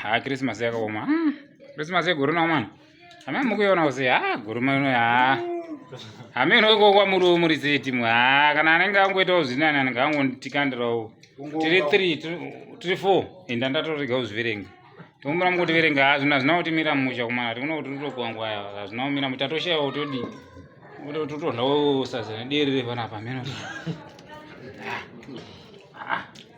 ah christmas yakaoma hmm, christmas yegore nawo mwana hama mukuiona use ha ah, guruma ino ha ah. hameno ikokwa muri muri setimu ha ah, kana anenge angoitawo zvinani anenge angonditikandirawo tiri three tiri four inda ndatoregawo zviverenga tombura mukuti verenga hazvina zvina kuti mira musha kumana tikuna kuti totogwangwa hazvina kumira musha toshayawo todi totodlawo sadza nederi repanapa meno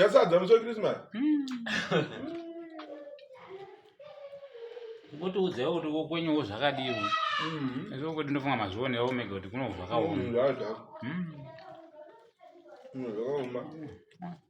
yasadza muso christmas ngotiudzewo kuti kokwenyewo zvakadii izvo kuti ndofunga mazvionewo mega kuti kuno zvakaoma zvakaoma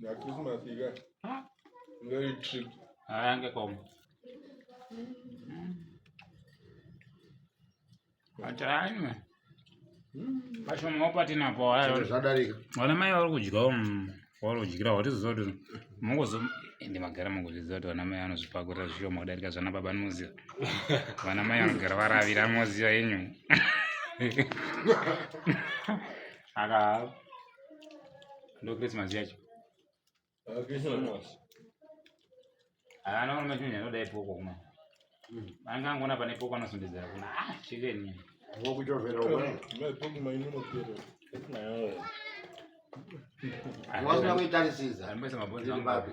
Na Christmas iga. Ah. Very trip. Haya ngekoma. Atanywe. Vashoma wapati napo haya. Zvadarika. Wana mai vari kudya um, vari kudyira watiziva kuti mungozo ende magara mungozviziva kuti vana mai vanozvipakurira zvishoma kudarika zvana baba anoziva. Vana mai vanogara varavira anoziva yenyu. aka ndo christmas yacho ana ona machimenya anoda ipoko kuma mm. anga angona pane poko anozondedzera kuna ah chikeni ngokuchovera wasina kuitarisisa ambaisa mabonzi ambapi